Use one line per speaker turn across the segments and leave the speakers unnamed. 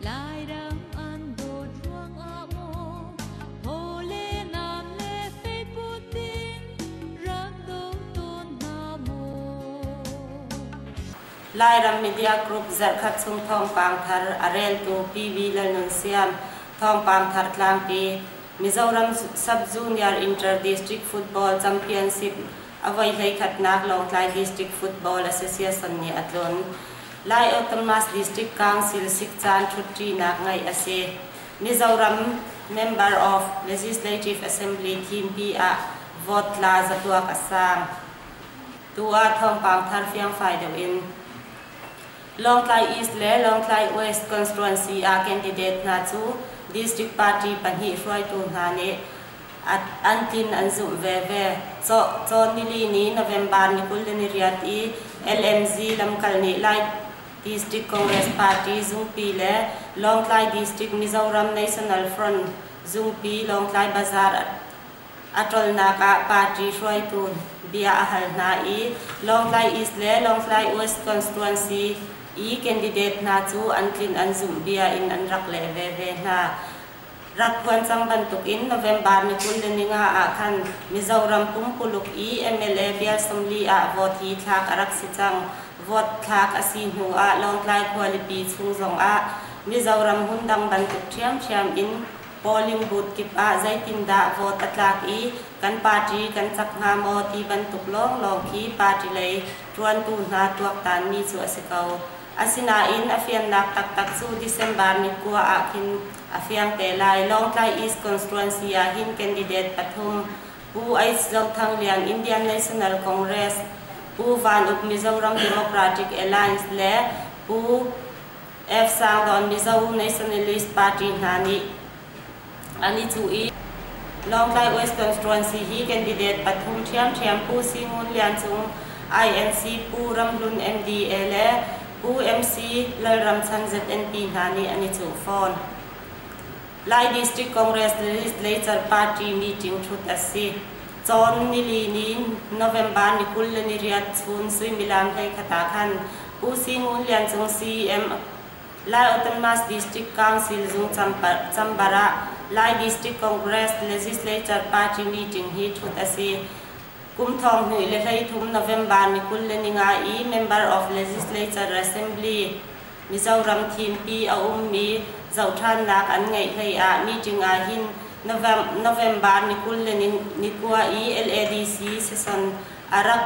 Lairang an dawt ruangah maw Thawle nan le feikut in rak do tawn hna maw Lairam Media Group zarhkhat chung thawngpang thar a reltu PV Lalnunsiam thawngpang thar tlangpi Mizoram Sub-Junior Inter-District Football Championship a voi hleikhatnak Lawngtlai District Football Association nih a tlun. Lai Ottomas District Council sik caan ṭhutṭinak ngeih a si. Mizoram Member of Legislative Assembly thimpi ah vote tla zatuak a sang. Tu ah thawngpang thar fiangfai deuh in Lawngtlai East le Lawngtlai West constituency ah candidate hna cu district party pahnih hruaitu hna nih an tin an zumh veve. Cawh Cawn nili ni November ni kul le ni riat i LMZ lamkal nih Lai District Congress Party Zungpi le Lawngtlai District Mizoram National Front Zungpi Lawngtlai Bazaar a tolnak ah party hruaitu bia a hal hna i Lawngtlai East le Lawngtlai West constituency i candidate hna cu an tlin an zumh bia in an rak leh veve hna. rak phuan cang bantuk in November ni kul le ni nga ah khan Mizoram kum kuluk i mla bial sawmli ah vote hi thlak a rak si cang. Vote thlak a si hnu ah Lawngtlai khualipi chung zong ah Mizoram hmun dang bantuk ṭhiamṭhiam in polling booth kip ah zeitindah vote a tlak i kan party kan cak hnga maw ti bantuk lawnglawng khi party lei ṭuantu hna tuaktanmi cu a si ko. Asinain a fiannak taktak cu December ni kua ah khin a fiang te lai. Lawngtlai East Constituency ah hin candidate pathum, Pu Ace Zo Thang Lian, Indian National Congress, Pu Van Uk Mizoram Democratic Alliance le Pu F. Sang Dawn Mizo Nationalist Party hna nih an i cuh i Lawngtlai West Constituency hi candidate pathum ṭhiamṭhiam Pu Si Ngun Lian Cung, INC Pu Ram Hlun MDA le Pu MC Lal Ram Chan ZNP hna nih an i cuh fawn. Lai District Congress Legislature Party meeting ṭhut a si. Cawn nili ni November ni kul le ni riat chun suimilam hlei khat ah khan Pu Si Ngun Lian Cung CM Lai Ottomas District Council zungcam chamber ah Lai District Congress Legislature Party meeting hi ṭhut a si. Kum thong hnih le hleithum November ni kul le ni nga i Member of Legislature Assembly, Mizoram thimpi a ummi zohṭhannak an ngeih hleiah meeting ah hin November ni kul le ni kua i LADC session a rak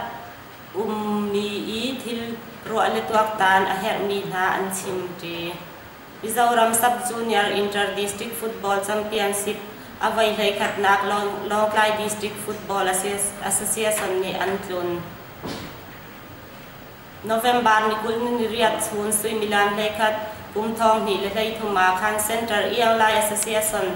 ummi i thil ruah le tuaktan a herhmi hna an chim ṭi. Mizoram Sub-Junior Inter-District Football Championship a voi hleikhatnak Lawngtlai District Football Association nih an tlun. November ni kul ni riat chun suimilan hleikhat kum thong hnih le hleithum ah khan Center Ianglai Association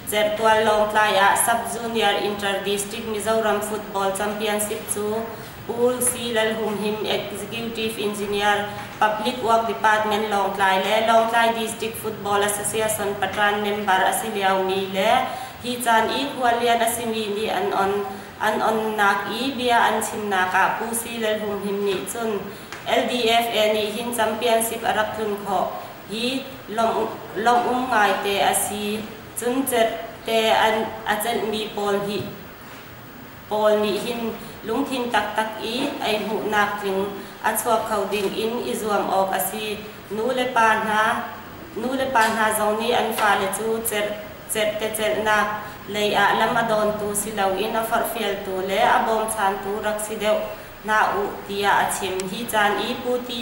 Chertual Lawngtlai ah Sub-Junior Inter-District Mizoram Football Championship cu Pu C. Lalhumhim Executive Engineer Public Work Department Lawngtlai le Lawngtlai District Football Association Patran member a si liomi le hi caan i khualian a simi nih an on an onnak i bia an chimnak ah Pu C. Lalhumhim nih cun LDFA nih hin championship a rak tlun khawh hi lawmh ngaite a si, cun cette a cenhmi pawl nih hin lungthin taktak i ei hmuhnak tling a chuak kho ding in i zuam awk a si. Nulepa hna zong nih an fale cu cettecelhnak lei ah lam a dawntu si loin a forhfialtu le a bawmchantu rak si deuh hna u tiah a chim. Hi caan i Pu Ti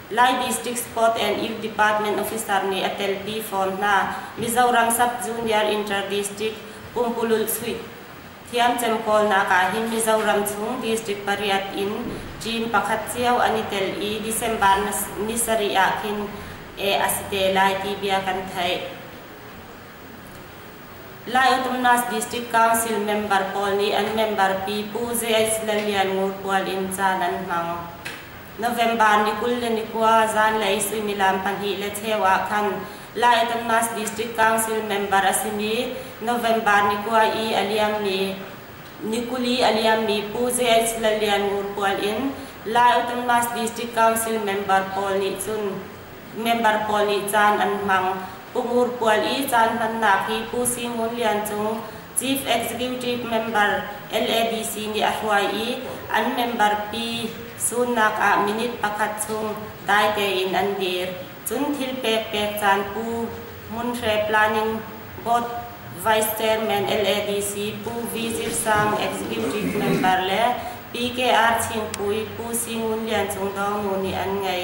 Lai District Court and Youth Department officer nih a telpi fawn hna. Mizoram Sub-Junior Inter-District, Pumpululh chuih thiamcem kawlnak ah hin Mizoram chung District pariat in Chin pakhat cio an i tel i December ni sarih ah khin eh a si te lai ti bia kan theih. Lai Autumnas District Council member pawl nih an member pi Pu JS Lalian Ngurpual in caan an hmang. November ni kul le ni kua zanlei suimilam pahnih le cheu ah khan Laitonmas District Council member a simi November ni kua i a liammi ni kuli a liammi Pu JH Lalian Ngur pual in Laitonmas District Council member pawl nih cun member pawl nih caan an hmang. Pu Ngur pual i caan hmannak hi Pu Si Ngun Lian Cung Chief Executive Member LADC nih a hruai i an member pi sunnak ah minute pakhat chung dai tein an dir. Cun thil pekpek caan pu Hmunhre Planning Board Vice Chairman LADC Pu V. Zir Sang Executive Member le PKR Chingpui Pu Si Ngun Lian Cung Do Mu nih an ngei.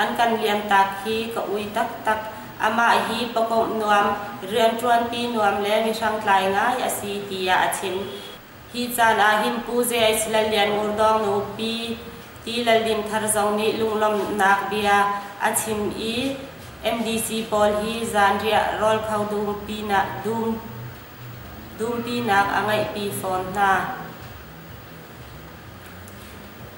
An kan liamtak hi ka ui taktak. Amah hi pakawmh nuam, rianṭuanpi nuam le mihringtlai ngai a si tiah a chim. Hi caan ah hin Pu Ze Aih Lal Lian Ngur Dawng nu Pi Ti Lal Dim Thar zong nih lunglawmhnak bia a chim i MDC pawl hi zanriah rawl kho dumpinak a ngeihpi fawn hna.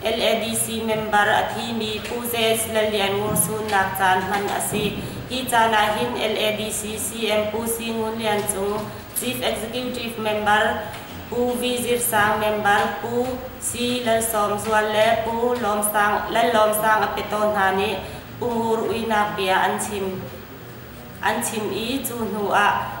LADC member a thimi Pu JS Lallian Ngung Sun nak caan hman a si. Hi caan ahhin LADC CM Pu Si Ngun Lian Cung, Chief Executive Member, Pu V Zir Sang member, Pu C Lalsawm Zual le Pu Lawm Sang, Lallawm Sang Apeto hna nih Pu Ngur Uinak bia an chim. An chim i cu hnu ah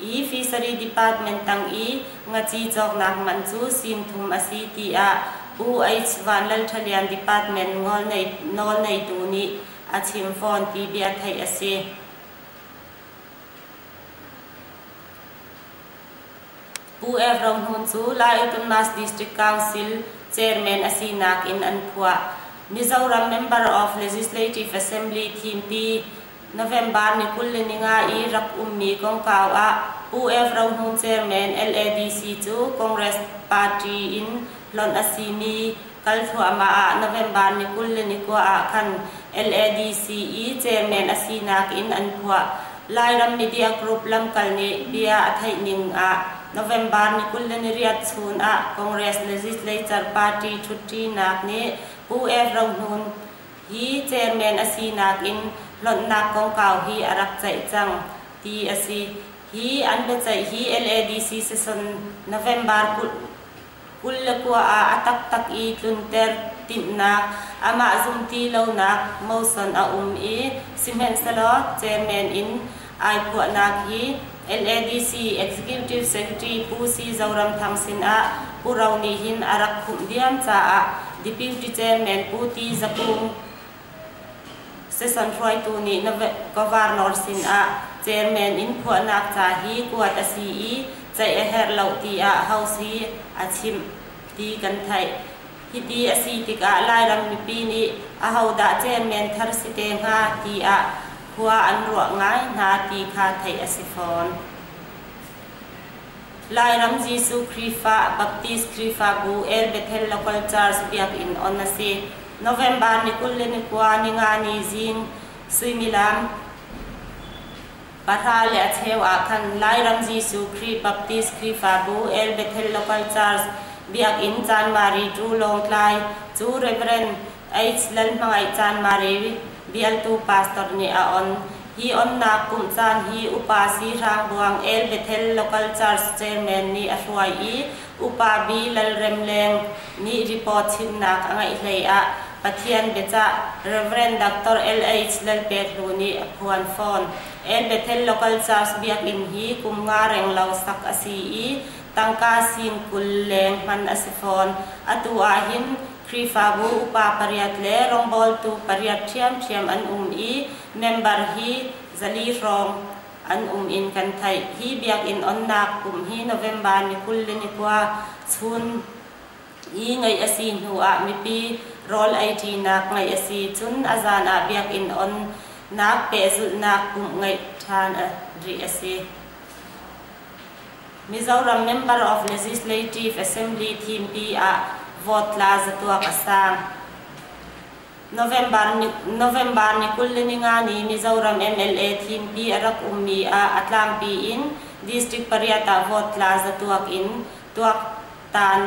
i fishery department tang i ngaci cawknak man cu sim thum a si tiah Pu H. Van Lal Ṭhalian department nawlneitu nih a chim fawn ti bia theih a si. Pu F. Rohmun cu Lai Autonomous District Council chairman a sinak in an phuah. Mizoram Member of Legislative Assembly Thimpi November ni kul le ni nga i rak ummi kongkau ah UF Rohmun Chairman LADC cu Congress party in hlonh a simi kal thluahmah ah November ni kul le ni kua ah khan LADC i chairman a sinak in an phuah. Lairam Media Group lamkal nih bia a theih ning ah November ni kul le ni riat chun ah Congress Legislature party ṭhutṭinak nih UF Rohmun hi chairman a sinak in hlonhnak kongkau hi a rak ceih cang, ti a si. Hi an biaceih hi LADC season November kul kul le kua ah a taktak i tlunter timhnak, amah zumti lonak moson a um i sihmanhsehlaw chairman in ai phuahnak hi LADC Executive Secretary Pu Si Zoram Thang sin ah Pu Ro nih hin a rak khumh diam caah Deputy Chairman Pu Ti Za Kung seson hruaitu nih Governor sin ah Chairman in phuahnak ca hi kuat a si i ceih a herh lo tiah House hi a chimh ti kan theih. Hiti a si tikah Lairam mipi nih ahodah Chairman thar si te hnga tiah khua an ruah ngai hna ti kha theih a si fawn. Lairam Jesuh Khrihfa Baptist Khrihfabu El Bethel Local Church Biakinn on a si. November ni kul le ni kua ningani zing suimilam pahra le a cheu ah khan Lairam Jesuh Khrih Baptist Khrihfabu El Bethel Local Church Biakinn Chanmari Tru Lawngtlai cu Reverend Aids lan hmangaih caan mareu bialtu pastor nih a on. Hi onnak kumh caan hi upa sihrang buang el Bethel Local Church Chairman nih a hruai i upa B. Lalrem Leng nih report chimnak a ngeih hlei ah Pathian biacah Reverend Dr. LH Lalpetlu nih a phuan fawn. El Bethel Local Church Biakinn hi kum nga reng lo sak a si i tangka sin kul leng hman a si fawn. Atu ah hin Khrihfabu upa pariat le rawngbawltu pariat ṭhiamṭhiam an um i member hi zali hrawng an um in kan theih. Hi biakinn onnak kum hi November ni kul le ni kua chun i ngeih a si hnu ah mipi rawl eiṭinak ngeih a si. Cun a zan ah biakinn onnak pehzulhnak kum ngeih ṭhan rih a si. Mizoram Member of Legislative Assembly thimpi ah vote tla zatuak a sang. November ni, November ni kul le ningani Mizoram MLA thimpi a rak ummi ah a tlangpi in district pariat ah vote tla zatuak in tuak tan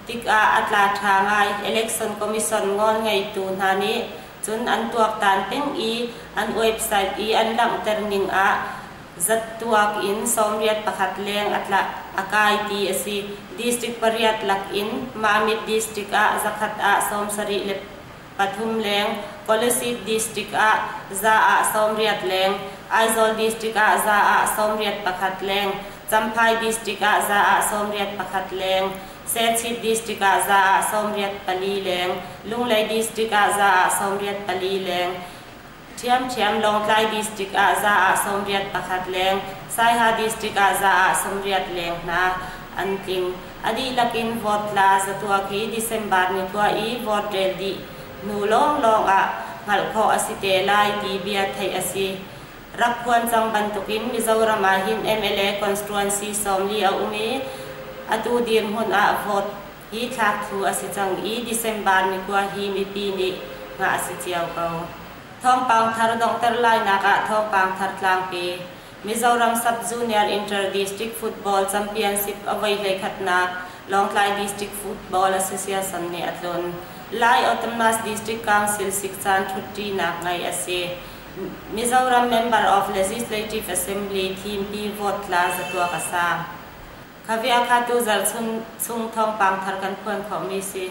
tikah a tla ṭha ngai. Election Commission ngawn ngeitu hna nih cun an tuaktan peng i an website i an langhter ning ah Zattuak in sawmriat pakhat leng a tla. A kai ti a si. District pariat lak in Mamit District ah zakhat ah sawmsarih le pathum leng, Kolasib District ah za ah sawmriat leng, Aizawl District ah za ah sawmriat pakhat leng, Champhai District ah za ah sawmriat pakhat leng, Sechit District ah za ah sawmriat pali leng, Lunglei District ah za ah sawmriat pali leng, Ṭhiamṭhiam Lawngtlai District ah za ah sawmriat pakhat leng, Saiha District ah za ah sawmriat leng hna an tling. A dihlak in vote tla zatuak i December ni khua i vote rel dih hnu lawnglawng ah hngalh khawh a si te lai ti bia theih a si. Rak phuan cang bantukin Mizoram ah hin MLA constituency sawm li a um i atu dirhmun ah vote Hi thlak thlu a si cang i December ni kua hi mipi nih ngah a si cio ko. Thawngpang thar donghter lainak ah Thawngpang thar tlangpi, Mizoram Sub-Junior Inter-District Football Championship a voi hleikhatnak Lawngtlai District Football Association nih a tlun lai Autumnas District Council sik caan ṭhutṭinak ngeih a si. Mizoram Member of Legislative Assembly Thimpi vote tla zatuak a sa. Ka viakatu zarh chung chung thawngpang thar kan phuan khawhmi si.